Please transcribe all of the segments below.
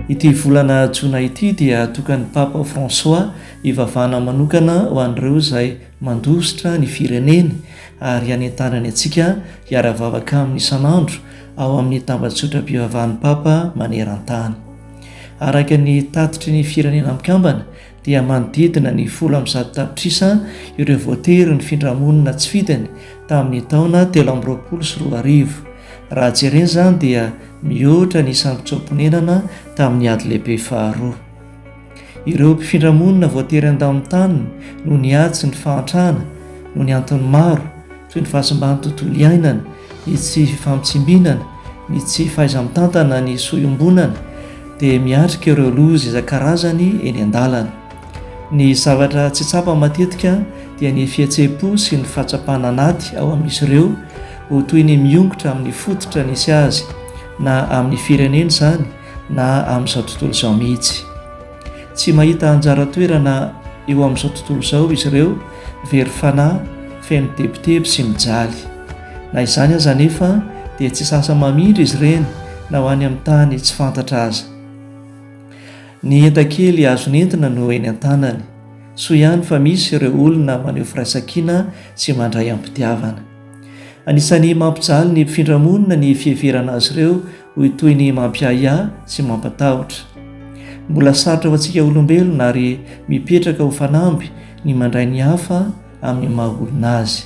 Ity volana jona ity dia tokan'ny Papa François hivavahana manokana ho an'ireo izay mandositra ny fireneny ary hanentanany antsika hiara-vavaka aminy isan'andro ao amin'ny tambajotram-pivavahan'ny Papa maneran-tany. Araka ny tatitry ny Firenena Mikambana dia manodidina ny folo amby zato tapitrisa ireo voatery nifindra monina tsy fidiny tamin'ny taona telo amby roapolo sy roa arivo. Raha jerena izany dia mihoatra ny isan'ny mpitsoa-ponenana tamin'ny ady lehibe faharoa. Ireo mpifindra monina voatery handao ny taniny no niady sy ny fahantrana no ny antony maro toy ny fahasimban'ny tontolo iainana, ny tsy fifampitsimbinana, ny tsy fahaiza-mitantana ny soa iombonana dia miatrika ireo loza isan-karazany eny an-dalana. Ny zavatra tsy tsapa matetika dia ny fihetseham-po sy ny fahatsapana anaty ao amin'izy ireo ho toy ny miongotra amin'ny fototra nisy azy, na amin'ny firenena izany na amin'izao tontolo izao mihitsy. Tsy mahita anjara toerana eo amin'izao tontolo izao izy ireo, very fanahy, feno tebiteby sy mijaly. Na izany aza anefa dia tsy sasa mamindra izy ireny na ho any amin'ny tany tsy fantatra aza. Ny entan-kely azo nentina no eny an-tanany. Soa ihany fa misy ireo olona maneho firaisankina sy mandray am-pitiavana. Anisan'ny mampijaly ny mpifindramonina ny fiheverana azy ireo hoy toy ny mampiahiahy sy mampatahotra. Mbola sarotra ho antsika olombelona ary mipetraka ho fanamby ny mandray ny hafa amin'ny maha olona azy.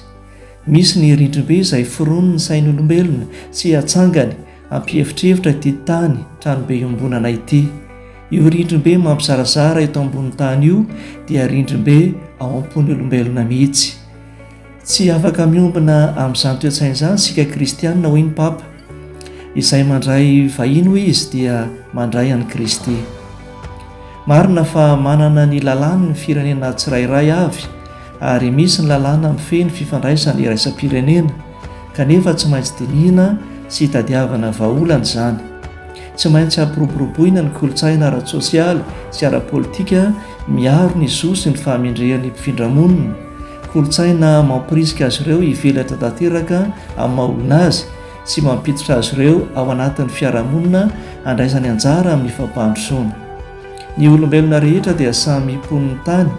Misy ny rindrimbe izay foronin'ny sain'olombelona tsy hatsangany hampihevitrevotra ity tany tranobe iombonana ity. Io rindrimbe mampizarazara eto ambonin'ny tany io dia rindrimbe ao am-pon'ny olombelona mihitsy. Tsy afaka miombona amin'izany toe-tsaina izany isika kristiana, hoy ny Papa. Izay mandray vahiny, hoy izy, dia mandray an'i Kristy. Marina fa manana ny lalàny ny firenena tsirairay avy ary misy ny lalàna mifehy ny fifandraisana iraisam-pirenena, kanefa tsy maintsy dinihina sy itadiavana vahaolana izany. Tsy maintsy hampiroboroboina ny kolontsaina ara-tsosialy sy ara-politika miaro ny zo sy ny fahamendrehan'ny mpifindramonina. Kolontsaina mampirisika azy ireo hivelatra tanteraka amin'ny maha-olona azy sy mampiditra azy ireo ao anatin'ny fiarahamonina handraisany anjara amin'ny fampandrosoana. Ny olombelona rehetra dia samy mponin'ny tany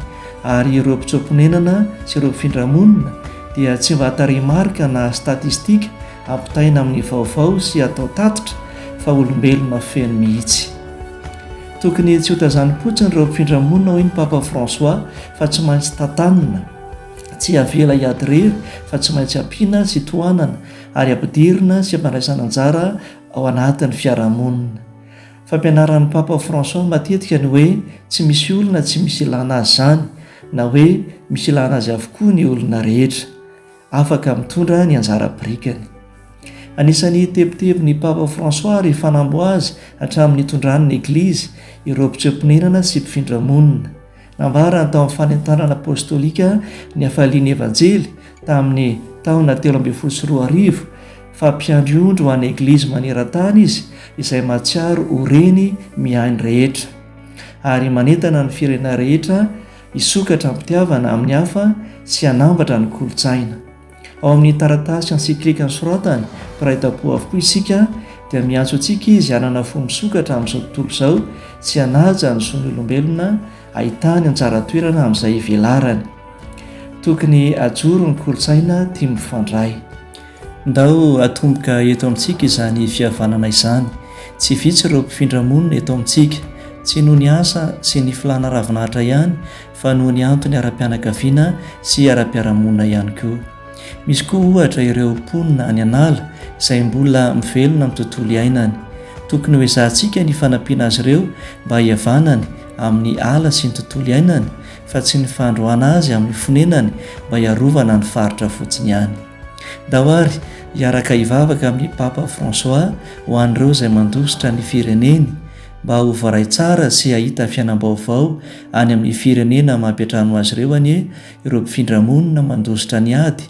ary ireo mpitsoa-ponenana sy ireo mpifindra monina dia tsy mba tarehimarika na statistika ampitaina amin'ny vaovao sy atao tatitra fa olombelona feno mihitsy. Tokony tsy ho tazanimpotsiny ireo mpifindra monina hoy ny Papa François fa tsy maintsy tantanina, tsy avela hiady irery fa tsy maintsy ampiana sy tohanana ary ampidirina sy ampandraisana anjara ao anatin'ny fiarahamonina. Fampianaran'ny Papa François matetika ny hoe tsy misy olona tsy misy ilana azy izany na hoe misy ilana azy avokoa ny olona rehetra. afaka mitondra ny anjara birikany. Anisan'ny tebiteby ny Papa François ary fanambo azy hatramin'ny nitondrany ny Eglizy ireo mpitsoa-ponenana sy mpifindra-monina. Nambarany tao amin'ny fanentanana apostolika ny hafalian'ny Evanjely tamin'ny taona telo ambin'ny folo sy roa arivo fa mpiandry ondry ho an'ny Eglizy maneran-tany izy izay mahatsiaro ho reny miahy ny rehetra ary manentana ny firenena rehetra Hisokatra am-pitiavana amin'ny hafa sy hanambatra ny kolontsaina. Ao amin'ny taratasy encyclique nosoratany mpiray tampo avokoa isika, dia miantso antsika izy hanana fo misokatra amin'izao tontolo izao sy hanaja ny zon'ny olombelona hahitany anjara toerana amin'izay ivelarany. Tokony hajoro ny kolontsaina tia mifandray. Ndao atomboka eto amintsika izany fihavanana izany. Tsy vitsy ireo mpifindra monina eto amintsika, tsy noho ny asa sy ny filàna ravinahitra ihany fa noho ny antony ara-pianakaviana sy ara-piarahamonina ihany koa. Misy koa ohatra ireo mponina any an'ala izay mbola mivelona amin'ny tontolo iainany. Tokony hoezahantsika ny fanampiana azy ireo mba hihavanany amin'ny ala sy ny tontolo iainany fa tsy ny fandroana azy amin'ny fonenany mba hiarovana ny faritra fotsiny ihany. Ndao ary hiaraka hivavaka amin'i Papa François ho an'ireo izay mandositra ny fireneny mba ho voaray tsara sy hahita fiainam-baovao any amin'ny firenena mampiantrano azy ireo anie ireo mpifindra monina mandositra ny ady